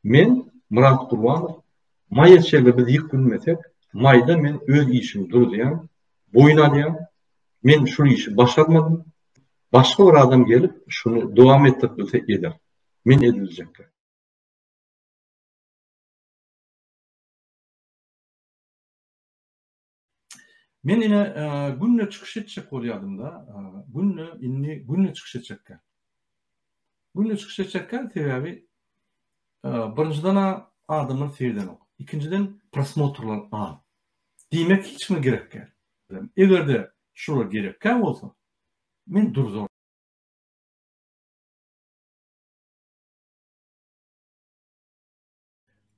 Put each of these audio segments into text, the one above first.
Men, Myrat Gurbanow, maýa çege biz ýyk bilmesek, maýda men öz işimi duruzýan, boýun alýan, men şul işi başarmadym, başga bir adam gelip şuny dowam etdirip bilse eder, men ediljekkä. Men ine günde çykyş etjek bolýadymda, günde indi günde çykyş etjekkä. Günde çykyş etjekkä sebäbi birinjiden adamlar seýdenok. Ikinjiden prosmotrlar az. Diýmek hiç kime gerek däl. Egerde şular gerekkä bolsa, men durzor.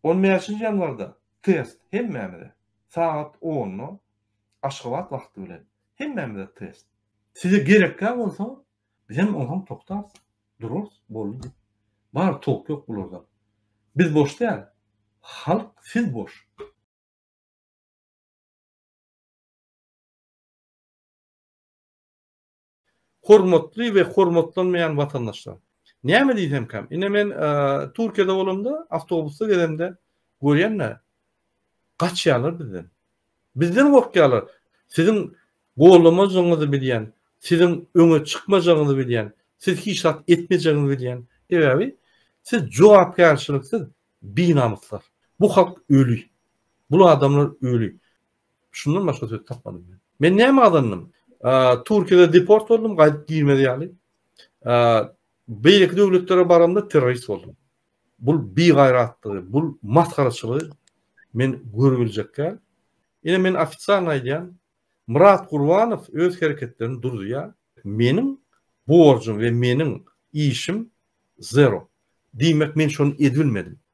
On bäşinji ýanwarda test hemmämize, sagat onda Aşgabat wagty bilen hemmämize test. Size gerekkä bolsa, bizem onsoň togtarys, durarys, boldy diýip. Bar, tolk ýok bularda. Biz boş däl, halk siz boş. Hormatly we hormatlanmaýan watandaşlar! Näme diýsemkäm, ine men Türkiýede bolamda, awtobusda gezemde görýän-de, gaçýarlar bizden. Bizden gorkýarlar. Siziň goldamajagyňyzy bilýän, siziň öňe çykmajagyňyzy bilýän, siz hiç zat etmejegiňizi bilýän. Sebäbi siz jogapkärçiliksiz binamyslar. Bu halk öli. Bul adamlar öli. Şundan başga söz tapmadym men. Men näme gazandym? Türkiýede deport boldum, gaýdyp girmez ýaly. Beýleki döwletlere baramda terrorist boldum. Bul bigaýratdygy, bul masgaraçylygy men görüp biljek däl. Ine men ofitsial aýdýan, Murat Gurbanow öz hereketlerini durdurýar. Meniň borjum we meniň işim zero. Diýmek men şony edip bilmedim.